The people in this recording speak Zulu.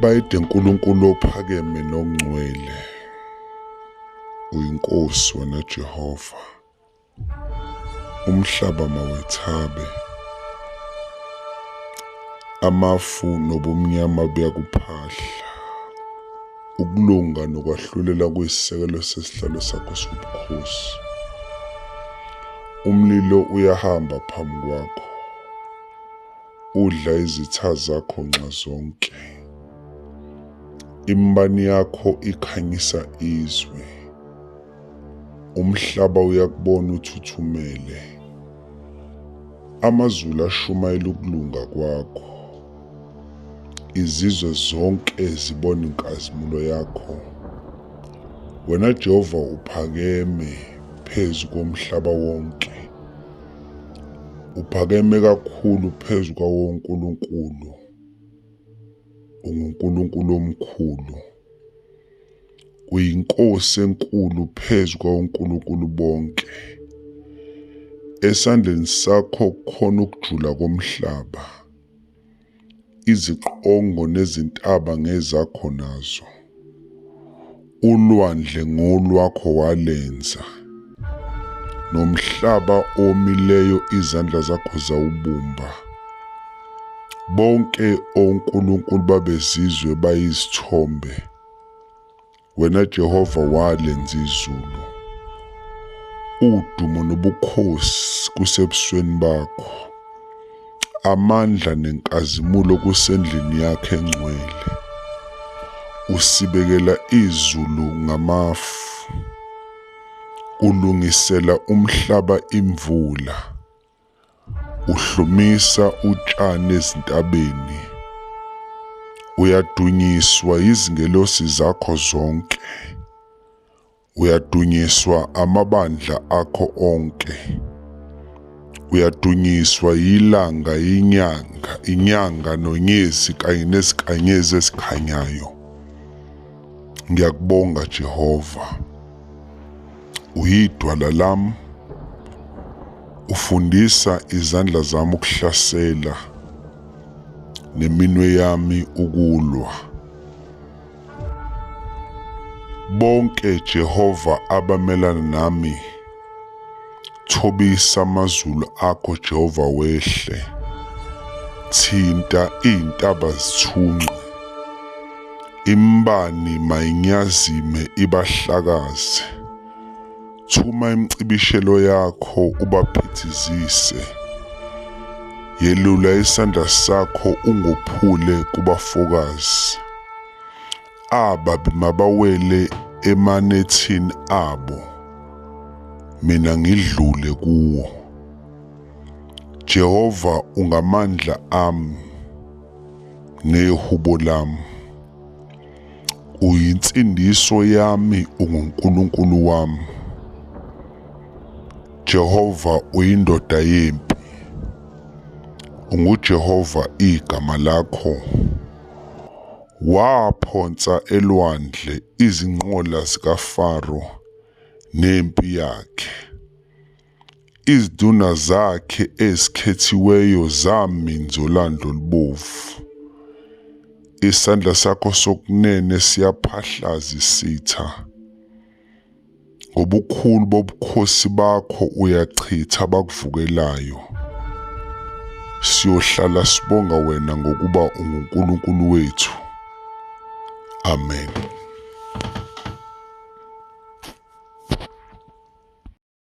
bayede nkulunkulu ophakeme nongcwele uyinkosi wena jehova umhlaba mawethabe amafu nobumnyama buyakuphahla ukulunga nokwahlulela kuyisisekelo sesihlalo sakho sobukhosi umlilo uyahamba phambi kwakho Udla izitha zakho nxa zonke. Imbani yakho ikhanyisa izwe. Umhlaba uyakubona uthuthumele. Amazulu ashumayela ukulunga kwakho. Izizwe zonke zibona inkazimulo yakho. Wena Jehova uphakeme phezu komhlaba wonke. Uphakeme kakhulu phezu kwawonkulunkulu. UnguNkulunkulu omkhulu. UyiNkosi enkulu phezu kwawonkulunkulu bonke. Esandleni sakho khona ukujula komhlaba. iziqongo nezintaba ngezakho nazo, ulwandle ngolwakho walenza, nomhlaba omileyo izandla zakho zawubumba. Bonke onkulunkulu babezizwe bayizithombe, Wena Jehova walenza izulu, udumo nobukhosi kusebusweni bakho, amandla nenkazimulo kusendlini yakhe engcwele. Usibekela izulu ngamafu, ulungisela umhlaba imvula, Uhlumisa utshani ezintabeni. Uyadunyiswa yizingelosi zakho zonke. Uyadunyiswa amabandla akho onke. Uyadunyiswa yilanga, inyanga, inyanga nonyezi kanye nezinkanyezi ezikhanyayo. Ngiyakubonga Jehova. Uyidwala lam. Ufundisa izandla zami ukuhlasela neminwe yami ukulwa. Bonke Jehova abamelana nami Thobisa amazulu akho Jehova wehle. Thinta izintaba zithunqe. Imbani mayinyazime ibahlakaze. Thuma imcibishelo yakho ubaphithizise. Yelula isandla sakho ungophule kubafokazi. ababi mabawele emanethini abo mina ngidlule kuwo Jehova ungamandla ami nehubo lami uyinsindiso yami unguNkulunkulu wami Jehova uyindoda yempi unguJehova igama lakho Waphonsa elwandle izinqola zikaFaro nempi yakhe. Iziduna zakhe ezikhethiweyo zami nzolanda olubovu. Isandla sakho sokunene siyaphahlaza isitha. ngobukhulu bobukhosi bakho uyachitha abakuvukelayo siyohlala sibonga wena ngokuba unguNkulunkulu wethu amen